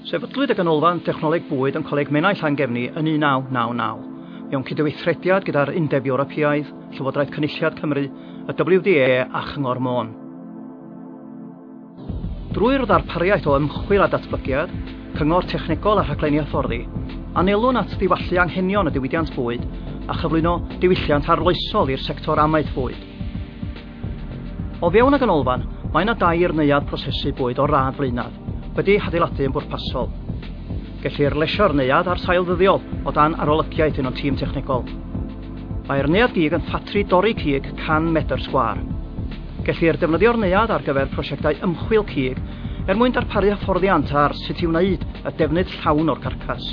Sefydlwyd y Ganolfan Dechnoleg Bwyd yn Coleg Menai Llangefni yn 1999, mewn cydweithrediad gyda'r Undeb Ewropeaidd, Llywodraeth Cynulliad Cymru, y WDA a Chyngor Môn. Drwy'r ddarpariaeth o ymchwil a datblygiad, cyngor technegol a rhaglenni hyfforddi, anelwn at ddiwallu anghenion y diwydiant bwyd a chyflwyno diwylliant arloesol i'r sector amaeth fwyd. O fewn y ganolfan, mae yna dair neuadd prosesu bwyd o'r radd flaenaf, wedi eu hadeiladu yn bwrpasol. Gellir lesio'r neuadd ar sail ddyddiol o dan arolygiaeth un o'n tîm technegol. Mae'r neuadd gig yn ffatri dorri cig 100 medr sgwâr. Gellir defnyddio'r neuadd ar gyfer prosiectau ymchwil cig er mwyn darparu hyfforddiant ar sut i wneud y defnydd llawn o'r carcas.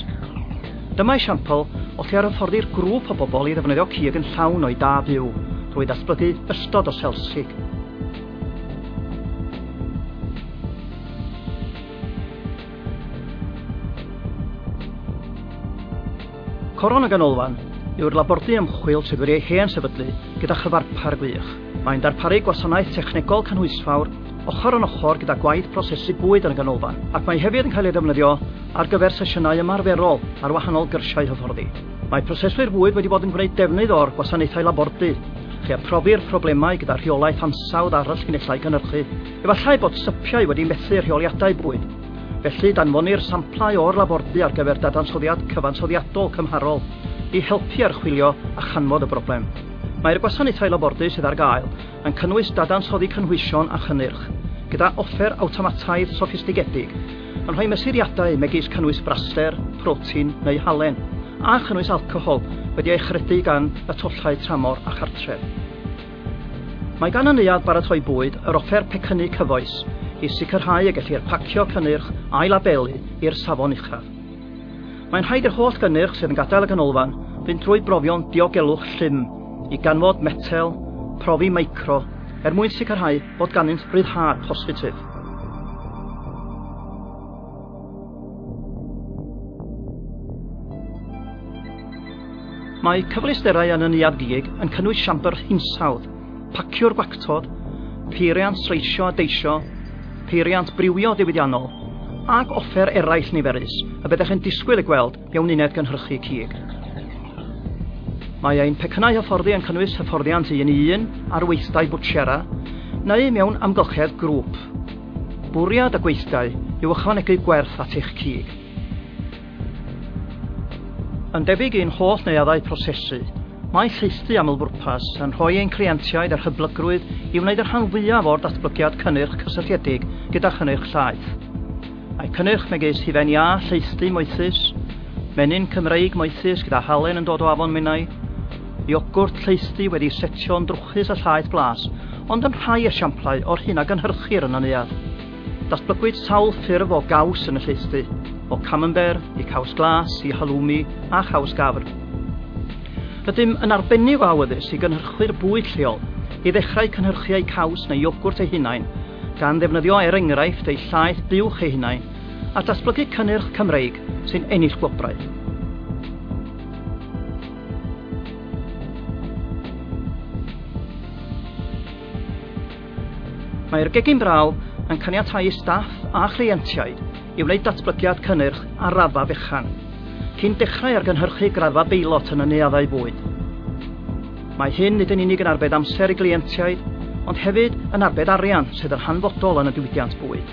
Dyma esiampl o lle yr hyfforddir grŵp o bobl i ddefnyddio cig yn llawn o'i da byw drwy ddatblygu ystod o sels cig. Coron y Ganolfan yw'r labordy ymchwil sydd wedi ei hen sefydlu gyda chyfarpar gwych. Mae'n darparu gwasanaeth technegol cynhwysfawr ochr yn ochr gyda gwaith prosesu bwyd yn y ganolfan, ac mae hefyd yn cael ei ddefnyddio ar gyfer sesiynau ymarferol ar wahanol gyrsiau hyfforddi. Mae proseswyr bwyd wedi bod yn gwneud defnydd o'r gwasanaethau labordy chi a phrofi'r problemau gyda rheolaeth ansawdd arall llinellau cynhyrchu. Efallai bod sypiau wedi methu rheoliadau bwyd, felly danfonir samplau o'r labordy ar gyfer dadansoddiad cyfansoddiadol cymharol i helpu archwilio a chanfod y broblem. Mae'r gwasanaethau labordy sydd ar gael yn cynnwys dadansoddi cynhwysion a chynnyrch, gyda offer awtomataidd soffistigedig, yn rhoi mesuriadau megis cynnwys braster, protein neu halen, a chynnwys alcohol wedi ei achredu gan y tollau tramor a chartref. Mae gan y Neuadd Baratoi Bwyd yr offer pecynnu cyfoes i sicrhau y gellir pacio cynnyrch a'i labelu i'r safon uchaf. Mae'n rhaid i'r holl gynnyrch sydd yn gadael y ganolfan fynd drwy brofion diogelwch llym i ganfod metel, profi micro, er mwyn sicrhau bod ganddynt ryddhad positif. Mae cyfleusterau yn y Neuadd Gig yn cynnwys siambr hinsawdd, pacio'r gwactod, peiriant streisio a deisio, peiriant briwio diwydiannol, ac offer eraill niferus y byddech yn disgwyl ei gweld mewn uned gynhyrchu cig. Mae ein pecynnau hyfforddi yn cynnwys hyfforddiant un i un ar weithdai bwtsiera neu mewn amgylchedd grŵp. Bwriad y gweithdai yw ychwanegu gwerth at eich cig. Yn debyg i'n holl neuaddau prosesu, mae Lleithdy Amlbwrpas yn rhoi ein cleientiaid a'r hyblygrwydd i wneud y rhan fwyaf o'r datblygiad cynnyrch cysylltiedig gyda chynnyrch llaeth. Mae cynnyrch megis hufen iâ Lleithdy moethus, menyn Cymreig moethus gyda halen yn dod o Afon Menai, iogwrt Lleithdy wedi setio'n drwchus a llaeth blas, ond yn rhai esiamplau o'r hyn a gynhyrchir yn y neuadd. Datblygwyd sawl ffurf o gaws yn y lleuthdy, o camembert i caws glas i halloumi a chaws gafr. Rydym yn arbennig o awyddus i gynhyrchwyr bwyd lleol i ddechrau cynhyrchu eu caws neu iogwrt eu hunain, gan ddefnyddio er enghraifft eu llaeth buwch eu hunain, a datblygu cynnyrch Cymreig sy'n ennill gwobrau. Mae'r gegin braw yn caniatáu i staff a chleientiaid i wneud datblygiad cynnyrch ar raddfa fechan, cyn dechrau ar gynhyrchu graddfa beilot yn y neuaddau bwyd. Mae hyn nid yn unig yn arbed amser i gleientiaid, ond hefyd yn arbed arian sydd yn hanfodol yn y diwydiant bwyd.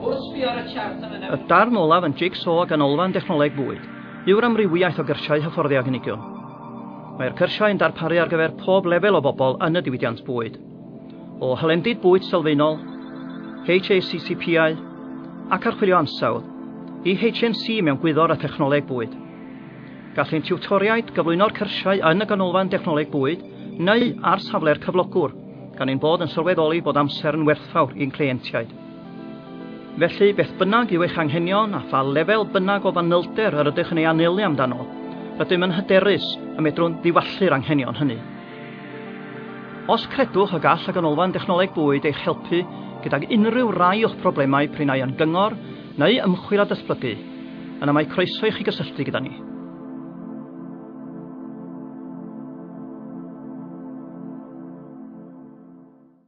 Wrth sbio ar y chart yn y... Y darn olaf yn Jigsaw o Ganolfan Dechnoleg Bwyd yw'r amrywiaeth o gyrsiau hyfforddi a gynigiwn. Mae'r cyrsiau yn darparu ar gyfer pob lefel o bobl yn y diwydiant bwyd, o hylendid bwyd sylfaenol, HACCP-au, ac archwilio ansawdd, i HNC mewn gwyddor a thechnoleg bwyd. Gall ein tiwtoriaid gyflwyno'r cyrsiau yn y Ganolfan Dechnoleg Bwyd neu ar safle'r cyflogwr, gan ein bod yn sylweddoli bod amser yn werthfawr i'n cleientiaid. Felly, beth bynnag yw eich anghenion a pha lefel bynnag o fanylder yr ydych yn ei anelu amdano, rydym yn hyderus y medrwn ddiwallu'r anghenion hynny. Os credwch y gall y Ganolfan Dechnoleg Bwyd eich helpu gydag unrhyw rai o'ch problemau prin ai yn gyngor neu ymchwil a datblygu, yna mae croeso i chi gysylltu gyda ni.